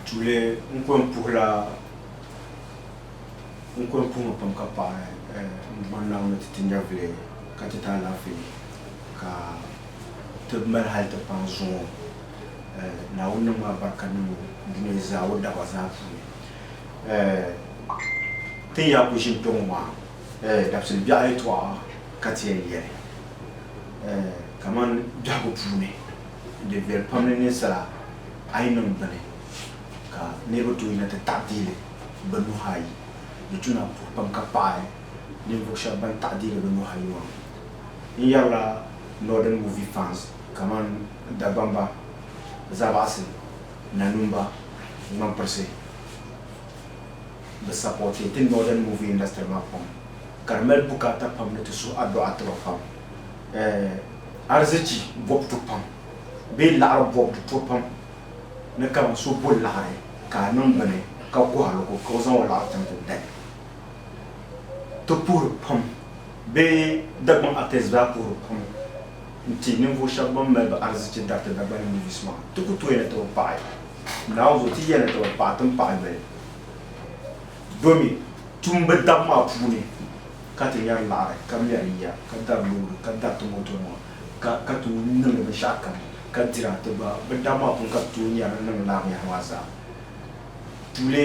Tuuli n kɔŋ puhi la n kɔŋ puhi ma pam ka paɣi n bɔri Naawuni ni ti ti nyɛvili ka ti ti alaafee ka ti mali hali ti paŋ zuŋɔ Naawuni niŋ ma barika niŋ o dunia zaa o daba zaa puuni ti ni yaa kuli ʒini kpɛŋɔ maa dabisili biɛɣu yɛtɔɣa ka ti yɛn yɛli kamani biɛhigu puuni Di viɛli pam ni ninsala a yi niŋ bini ka niriba tooi yina ti taɣi dihili bɛ nuhi ayi. Di tuna puhi pam ka paɣi ninvuɣ shɛba ban taɣi dihili bɛ nuhi ayi maa. N yɛrila Northern Movie Fans kamani Dagbamba, Zabaɣisi, Nanumba, Ŋmanpirisi. Bɛ sapɔɔti ti Northern Movie Industry maa pam ka di mali bukaata pam ni ti suhi adɔɣa ti ba pam. eh, arzichi bɔbu to pam bee laɣiri bɔbu to pam ni kaman so bo laɣiri ka a niŋ bini ka kɔhir li ko ka o zaŋ o laɣiri tam o dali. Ti puhiri pam bee Dagbaŋ actors daa puhiri pam n-ti ninvuɣ shɛba ban mali bɛ arzichi dariti Dagbani movies maa. Ti ku tooi ni ti bi paɣi Naawuni zuɣu, ti yɛli ni ti bi paɣi, ti ni paɣi yoli domi tumbu dab maa puuni. ka ti yɛri laɣiri, ka mɛri yiya, ka dari loori, ka dariti motonima, ka ka tooi niŋdi binshɛɣu kam, ka dira ti gba. Bɛ dam maa puuni ka ti tooi nyari ni niŋdi lala binyɛhiri maa zaa. Tuuli,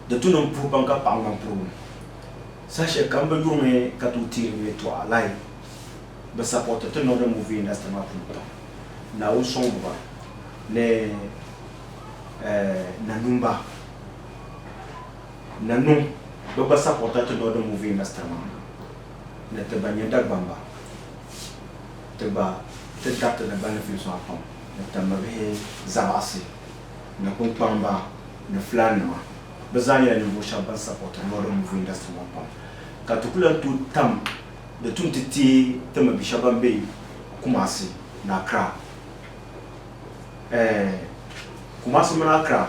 Di tu niŋ puhi pam ka paɣ ŋmani purigu. Saha shɛli kam bɛ yurimi ka tooi teeri bɛ yɛltɔɣa lahi bi sapɔriti ti Northern Movie Industry maa puuni pam. Naawuni sɔŋmi ba ni Nanumba. Na niŋ bɛ gba sapɔrta ti Northern Movie Industry maa ni ti ba nyɛ Dagbamba ti gba ti dariti Dagbani films maa pam ni Tambabihi Zabaɣisi ni Kunkpamba ni Fulaannima. Bɛ zaa nyɛla ninvuɣ shɛba ban sapɔrti Northern Movie Industry maa pam ka ti ku lan tooi tam di tum ti teei Tambabi shɛba ban be Kumasi ni Accra. Ɛɛh Kumasi mini Accra.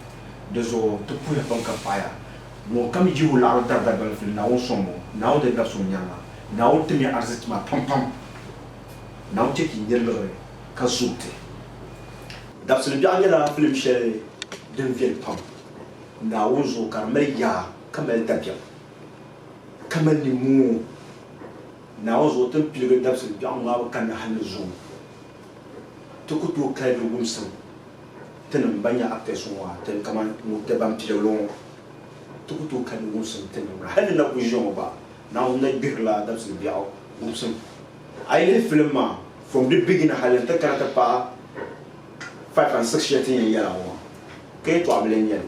Di zuɣu ti puhiya pam ka paɣiya, ŋunkam yihi o laɣiri dari dagbani fili, Naawuni sɔŋ ŋɔ, Naawuni di labisi o nyariŋa. Naawuni tim ya arzichi maa pampam. Naawuni chɛ ka yi nya liɣiri ka zooi ti. Dabisili biɛɣu nyɛla filim shɛli din viɛli pam Naawuni zuɣu ka di mali yaa ka mali dabiɛm ka mali nimoo. Naawuni zuɣu ti ni piligi dabisili biɛɣu ŋmaabu kanna hal ni zuŋɔ. Ti ku tooi kali ni wumsim tinim ban nyɛ aptɛs ŋɔ a tin kaman Nukte ban pili ŋɔ. Ti ku tooi kali ni wumsim tinim ŋɔ. Hal di na kuli ʒiya ŋɔ gba, Naawuni na gbihirila dabisili biɛɣu wumsim. A yi lihi filim maa from di beginning hal n-ti kana ti paai five and six shɛli ti ni yɛn yɛl a ŋɔ maa, ka yɛtɔɣ bili n-nyɛ li.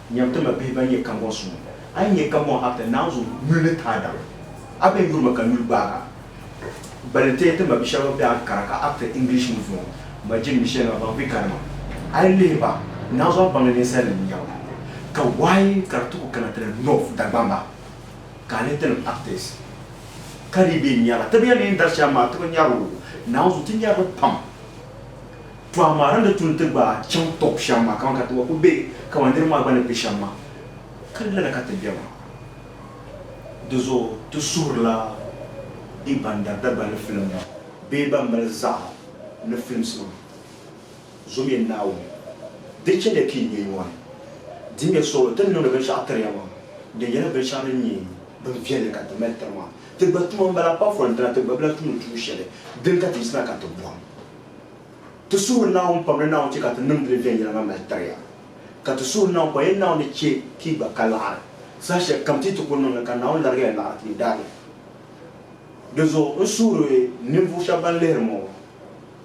Nyam ti ma bihi ban nyɛ kambɔŋ suŋ. A yi nyɛ kambɔŋ Abta Naawuzu yuli ni taadabi, a bɛn yuri ma ka n yuli gbaag a. Gbali n-teei ti ma bi shɛba ban be Ankara ka Abta English ŋɔ zuŋɔ ma jin mi shɛli maa baŋ be Ghana maa. A yi lihi ba, Naawuzu a baŋli ninsalinim ni nyɛba. Ka wayi ka di ti ku kana ti na North Dagbamba ka a lihi ti nim Abtas ka dii be n-nyari a. Ti bi yɛli ni yi ni dari shɛm maa ti bi nyari o. Naawuzu ti nyari li pam. Tɔha maa ni di tu nti gbaai chaŋ tɔb shɛm maa kaman ka ti wa ku be, kaman niriba maa gba ni be shɛm maa, ka di lala ka ti be maa. Di zuɣu ti suhirila bɛ ban dari Dagbaŋ ni filim maa bee ban mali zaɣa ni films maa, Zomya Naawuni, di chɛliya ka yi be nyɔri, dimiya suɣulo ti ni niŋdi binshɛɣu tiri ya maa, din yɛla binshɛɣu din nyɛ bin viɛlli ka ti mali tiri maa. Ti gba tuma m-bala apart from dina ti gba bi lahi tumdi tuun shɛli, dini ka ti yiɣisina ka ti bɔhim. Ti suhu Naawuni pam ni Naawuni chɛ ka ti niŋdi li viɛnyɛliŋga mali tiri ya, ka ti suhu Naawuni pa yɛn Naawuni ni chɛ ka yi gba ka laɣiri saha shɛli kam ti yi ti ku niŋ li, ka Naawuni larigi ya laɣiri ti ni daa be. Di zuɣu n suhiri ninvuɣ shɛba ban lihiri ma ŋɔ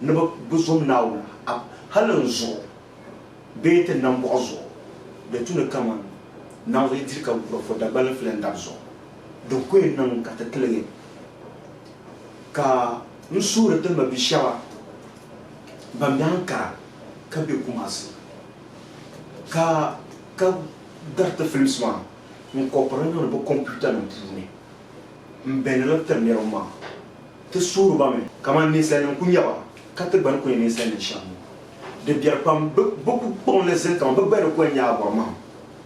ni bɛ bi zom Naawuni a hali n zuɣu bee ti nambɔɣu zuɣu, di tu ni kaman naŋ zuɣu yi diri ka guri fo Dagbal n fili n dab zuɣu. Din ku yɛn niŋ ka ti tiligi ka. N suhiri ti ma bi shɛba ban be Ankara ka be Kumasi ka ka dari ti films maa n kɔpiri li niŋdi bɛ computer nim puuni m beni li tiri niriba maa ti suhiri ba mi kaman ninsalinim ku nyɛba ka ti gba ni ku nyɛ ninsalinim shɛm ŋɔ di biɛri pam bɛ ku kpaŋ li zali kaman bɛ gba ni ku yɛn nyɛ a bɔri mahim.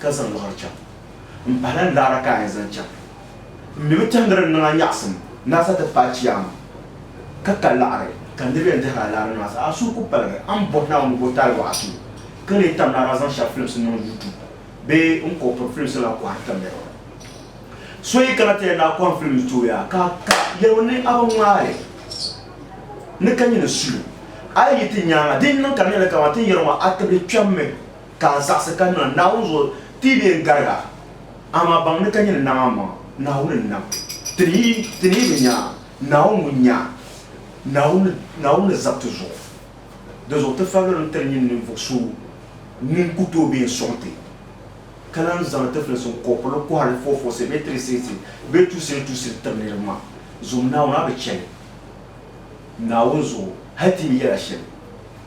ka zaŋ liɣiri chaŋ. M pahila n laɣiri ka a yɛn zaŋ chaŋ. M mi mi tɛhindiri n niŋ a nyaɣisim ni a sa ti paai Chiyaama ka ka laɣiri ka niriba yɛn dihiri a laɣiri niŋ a sa. A suhu ku paligi. A ni bɔhi Naawuni ni bɔ taali waɣa tuhi ka lee tam naara zaŋ shɛb filimsi niŋ YouTube bee n kɔbi piri filimsi maa kɔhiri tamya yɔɣu. So yi kana ti yɛn daa kɔhim filimsi tuhi a ka ka yɛli o ni a bi ŋmaai li ni ka nyini suyu. A yi yi ti nyaŋa din niŋ ka n yɛli kaman ti ni yɛri ŋɔ a tibili kpɛmmi. Ka a zaɣisi ka niŋ a Naawuni zuɣu ti yi bee n-garig a, amaa baŋ ni ka nyini nam amaŋa, Naawuni n-nam ti ni yi ti ni yi bi nya a, Naawuni ŋun nya a, Naawuni, Naawuni ni zab ti zuɣu. Di zuɣu ti falilim tiri nyini ninvuɣ so ŋun ku tooi be n-sɔŋ ti, ka lan zaŋdi ti filinsi n-kɔpirili kɔhiri fɔɔfɔɔsi bee tiriseesi bee tuusili tuusili tiri niriba maa, zuŋm Naawuni a bi chani Naawuni zuɣu hal ti yi bi yɛl a shɛli,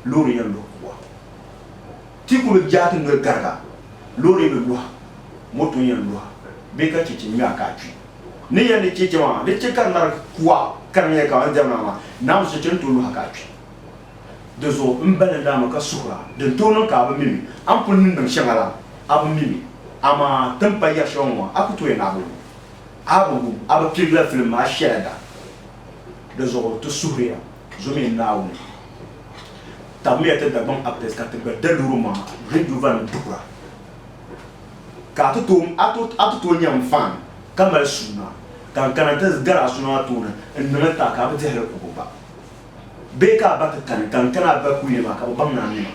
loori yɛn luhi ku a. Ti ku bi jaati noli gariga, loori bi luhi, moto yɛn luhi bee ka chɛchɛ ŋmɛɣu ka a kpi. Ni yɛn ni chɛchɛ maa, di chɛ ka di mali kuɣa kariŋya ka ban diɛmda maa naa mi chɛchɛ n-tooi luhi a ka a kpi. Di zuɣu m balli daa mi ka suhira, din tooi niŋ ka a bi mi mi. A ni pun ni niŋ shɛŋa la, a bi mi mi. Amaa ti ni pa yɛri shɛli ŋɔ maa, a ku tooya ni a bi wum. A bi wum, a bi pirigila filim maa shɛla da. Di zuɣu ti suhiriya. Zo mini Naawuni tabimiya ti Dagbaŋ Aptɛs ka ti gba da loori maa rɛdiovanima duhira. Ka a ti tooi a ti a ti tooi nya m fan ka mali suuna ka n kana nti gari a so maa tooni n niŋ n taai ka a bi dihi li kubu gba. Bee ka a ba ti kani ka n kana a ba kuli yɛli ma ka bi baŋ ni a nima.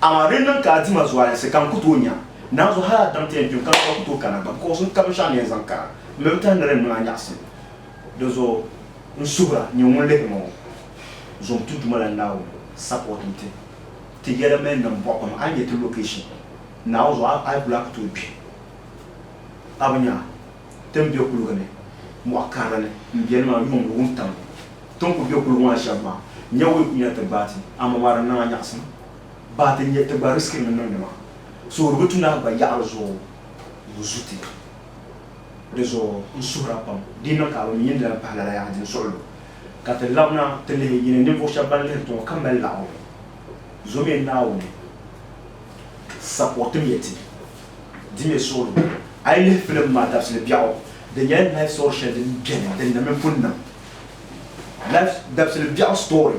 Amaa di ni niŋ ka a di ma zualinsi ka n ku tooi nya naanzu hal a daŋ ti yɛn kpi m ka n gba ku tooi kana gba bikɔs n ka binshɛɣu ni yɛn zaŋ kana m mi bi tahi ni di ni niŋ a nyaɣisim di zuɣu. N suhira nyɛ ŋun lihiri ma ŋɔ, zuŋ ti Duuma la Naawuni support n ti ti yɛla mini niŋ bɔɣu pam. A yi nya ti location Naawuni zuɣu a yi ku lahi ku tooi kpi. A bi nya ti ni be kuliga ni mɔɣu karili ni m beni maa yuŋ ni wuntaŋ ni ti ni ku be kuliga maa shɛb maa nya wuyi ku yina ti gbaai ti amaa maa di niŋa nyaɣisim baa ti nya ti gba riskirimi niŋdi maa so di bi tu ni a gba yaɣiri zuɣu wuzu ti. Di zuɣu n suhira pam di ni niŋ ka a bi mi yɛn di lan pahi lala yaha din suɣi lu ka ti labina ti lihi yi ni ninvuɣ shɛb bɛn lihiri ti ŋɔ ka mali laɣingu zomya Naawuni saportimya ti. Dimya suɣilu. A yi lihi filim maa dabisili biɛɣu, di nyɛla life story shɛli din beni din na mini pun niŋ. Life dabisili biɛɣu story.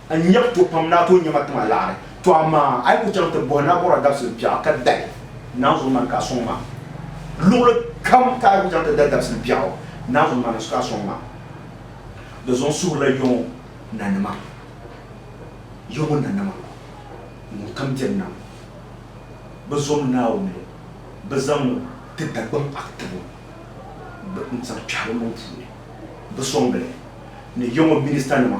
N nya ku to pam ni a tooi nya ma tiŋa laɣiri, tɔ amaa a yi ku chaŋ ti bɔhi Naabɔrɔ dabisili biɛɣu ka dahi naanzu mani ka a sɔŋ ma. Luɣili kam ka a yi ku chaŋ ti dahi dabisili biɛɣu, naanzu mani ka a sɔŋ ma. Di zuɣu n suhirila Yɔŋɔ nanima, Yɔŋɔ nanima ŋun kam biɛri nam, bɛ zom Naawuni, bɛ zaŋ o ti Dagbaŋ Akitibu n-zaŋ kpɛhi bɛ maŋ puuni bɛ sɔŋdi li ni Yɔŋɔ ministanima.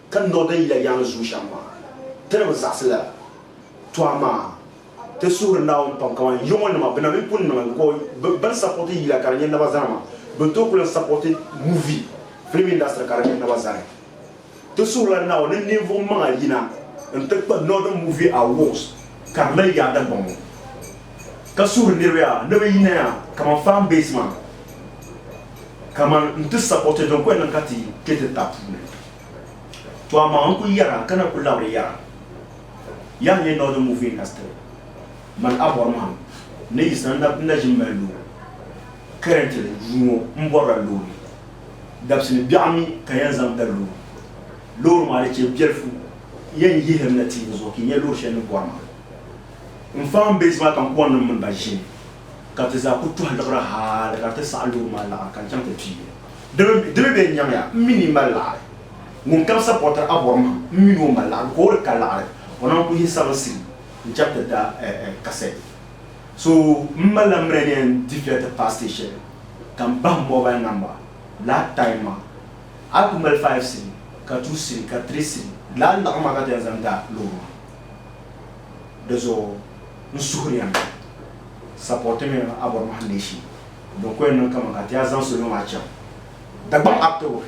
Ka niŋ din yila yaŋ zuyu shɛm maa, ti ni bi zaɣisi la to amaa ti suhiri Naawuni pam kaman yɔŋɔ nima bina mi pun niŋli because bi bɛn sapɔti yila ka di nyɛ naba zani maa bɛ ni tooi kuli yɛn sapɔti movie, film industry ka di nyɛ naba zani. Ti suhirila Naawuni ni ninvuɣu maŋa yina n ti kpa Northern Movie Awards ka di mali yaada bɔŋɔ ka suhiri niriba yaa ni bɛ yina yaa kaman fan base maa kaman n ti sapɔti din kuli niŋ ka ti kpe ti ta puuni. To amaa n ku yɛra ka na ku labiri yɛra, Yaha nyɛ Northern Movie Industry man a bɔri mahim ni yi san na na ʒi m-mali loori. Currently yuui ŋɔ m bɔrila loori dabisi ni biɛɣu mi ka yɛn zaŋ da loori. Loori maa di chɛ biɛlifu yɛn yihiri na tiivi zuɣu ka yi nya loori shɛli ni bɔri maa. M fan base maa kampuannim mini ba ʒimi ka bɛ ti zaa ku tɔhi liɣiri hali ka di ti saɣi loori maa laɣiri ka n chaŋ ti pii li. Di mi bee n-nyamiya, m mi ni mali laɣiri. Ŋun kam sa bɔtiri Abɔrmahim, m mi ni o mali laɣiri, ka o di ka laɣiri, o nam ku yihi sabiri siri n-chab ti da kasɛ. So m mali la mire ni yɛn difiya ti paai sitɛji shɛli, ka m bahi mobal namba lala taim maa. A ku mali faiv siri, ka tuu siri, ka tiri siri lala laɣiri maa ka ti yɛn zaŋ da loori maa. Di zuɣu n suhiri ya ni sapɔtimi Abɔrmahim leei shee. Din ko yɛn niŋ kaman ka ti yaa zaŋ salo maa chaŋ Dagbaŋ Aptabo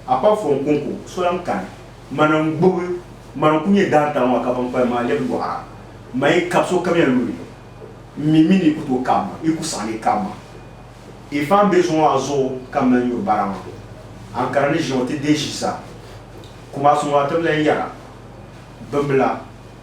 apap fɔŋ Konko so lan kani mana n-gbubi ma n-ku nyɛ daantaŋ maa ka bankpalim maa lɛbi yɔɣira ma yi kab sokamiya luɣili m mi mi ni yi ku tooi kab ma, yi ku saɣi ni yi kab ma. Yi faan be zuŋɔ maa zuɣu ka m mali nyuri bara maa, Ankara ni ʒiɛŋ ti deei shisa. Kumasi ŋɔ a tibila n-yɛra, Bimbila,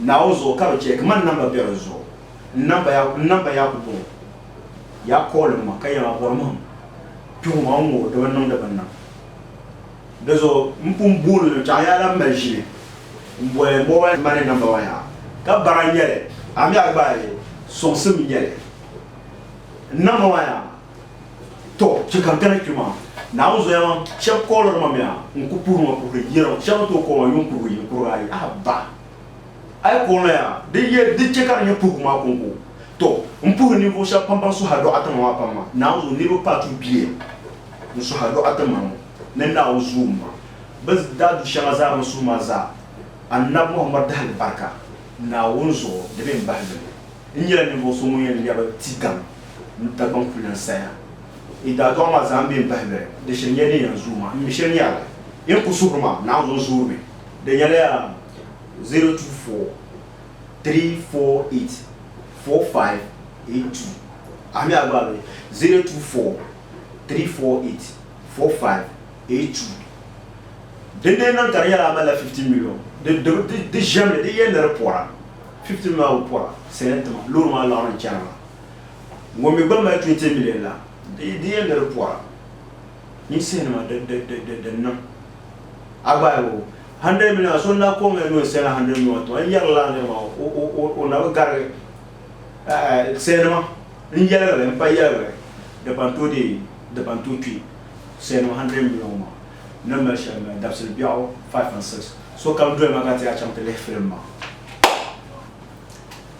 Naawuni zuɣu ka bɛ chɛ ka man namba be di zuɣu n-namba ya, n-namba ya ku bɔŋɔ. Ya kɔɔlim ma ka yɛma bɔrimihim kpihu ma n-ŋɔ di bi niŋdi bini na. Di zuɣu m pun booni ni chaŋ ya la m mali ʒili m-boli mobile money namba maa yaha ka bara n-nyɛ li, a mi a gbaai li sɔŋsim n-nyɛ li n namba maa yaha. To, chɛ ka n kana kpe maa. Naawuni zoya maa shɛb kɔɔliri ma mi a, n ku puhiri ma puhiri yɛra. Shɛb ni tooi kɔɔ ma yuŋ kurigu yini kurigu ayi a ba. A yi kɔɔ noya, di yɛn di chɛ ka di nyɛ puhigu maa kɔŋko. To, m puhiri ninvuɣ shɛb pam bɛn suhi a dɔɣitɛma maa pam maa. Naawuni zo niriba paa tuhi bia n suhi a dɔɣitɛma ŋɔ ni Naawuni zuum maa. Bɛ daa du shɛŋa zaa bɛn suhi maa zaa Annabi Muhammad dahilibarika Naawuni zuɣu di be m bahi li ni. N nyɛla ninvuɣ so ŋun yɛn lɛbi ti gaŋ ni Dagbaŋ kuli lan saya. Yi daadɔɣi ma zaa m-be m-bahi lɔya, di shiri nyɛla din yɛn zooi ma. M mi shɛli ni yaha yi ni ku suhiri ma naai zuŋ zoori mi. Di nyɛla yaa 024-348-4582. A mi a gba a be 024-348-4582. Dindin niŋ ka di nyɛla a malila 15 miliyon, di ʒiɛmli, di yɛn ni di pɔra. 15 maa bi pɔra sali n-tima loori maa laɣiri ni chana maa. Ŋun mi gba mali 20 million la, di yɛn ni di pɔra ninsih'nima din niŋ. A gba yi o 100 million so n-lahi kɔŋ ya ni o ni sali 100 million maa tima n-yɛri lala niri maa o na bi garigi sali'nima n-yɛligi li m-pa yɛligi li di ban tooi deei di ban tooi kpi sali'nima 100 million maa. ni mali shɛli maa, dabisili biɛɣu 5 and 6. Sokam doli ma ka ti a chaŋ ti lihi filim maa.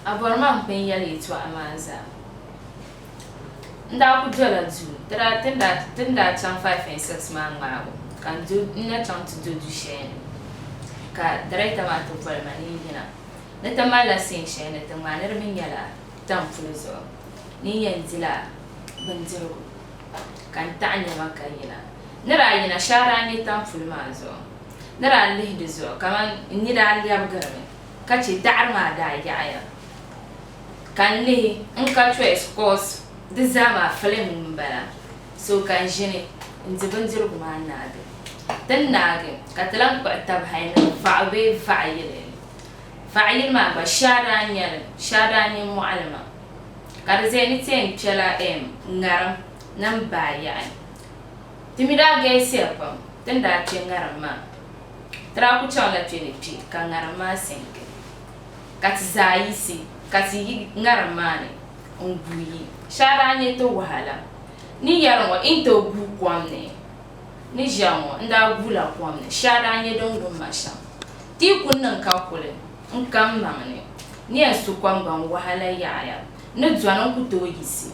A bɔri ma m pun yɛli yɛtɔɣa maa zaa. N daa ku dola duu, dara ti ni daa chaŋ 5 and 6 maa ŋmaabu ka n na chaŋ ti do du shɛli ni ka dariɛkta maa ti boli ma ni n yina. Ni ti malila siin shɛli ni ti ŋmaaniri mi nyɛla tam puli zuɣu ni n yɛn dila bindirigu. ka n taɣi niriba ka yina. Ni daa yina shee a daa nya tampuli maa zuɣu ni daa lihi di zuɣu kaman n ni daa lɛbigiri mi ka chɛ daɣiri maa daa yaɣiya ka n lihi n ka choice coz di zaa maa film m-bala so ka n ʒini n-di bindirigu maa naagi. Ti ni naagi ka ti lan kpuɣi tab hal ni vaɣu bee vaɣiyili. Vaɣiyili maa gba shee a daa nya li shee a daa nya mɔɣili maa. ka di zaya ni ti yɛn kpɛla ɛm ŋariŋ nim baayaɣi. Ti mi daa galisiya pam ti ni daa kpɛ ŋariŋ maa. Ti daa ku chaŋ la kpɛ ni kpɛ ka ŋariŋ maa sɛngi ka ti zaa yiɣisi ka ti yi ŋariŋ maa ni n-guui yi. Shɛli daa nyɛ ti wahala ni yɛli ŋɔ yi ni tooi guui kom ni ni ʒiɛm ŋɔ n-daa guui la kom ni. Shɛli daa nyɛ din wum ma shɛm ti yi ku niŋ ka kuli. N ka m maŋ ni, nia n su kɔŋbaŋ wahala yaɣiya ni dɔni n ku tooi yiɣisi.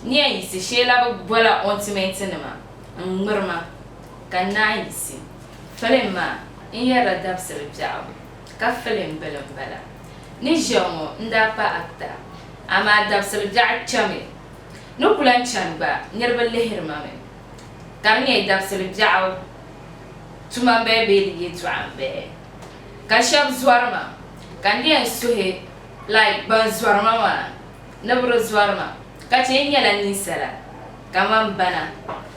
Nia yiɣisi shee la bi bɔla ɔintimentinima n-ŋmiri ma, ka n naan yiɣisi. Filim maa n yɛrila dabisili biɛɣu, ka filim bila m-bala. Ni ʒiya ŋɔ n daa pa actor, amaa dabisili biɛɣu chami ni ku lan chani gba niriba lihiri ma mi, ka di nyɛ dabisili biɛɣu tuma m-bala bee di yɛltɔɣa m-bala. Ka shɛb zɔri ma, ka n yɛn suhi like ban zɔri ma maa ni bɛ di zɔri ma ka chɛ n nyɛla ninsala kaman ba na.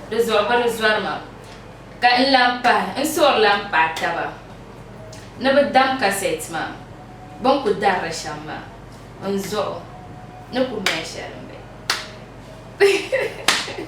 Dizuɣu bɛ di zɔri ma ka n lan pahi n suhuri lan kpahi taba ni bɛ dam kasɛt maa bɛ ni ku dari li shɛm maa. N zuɣu ni ku mali shɛli m-be.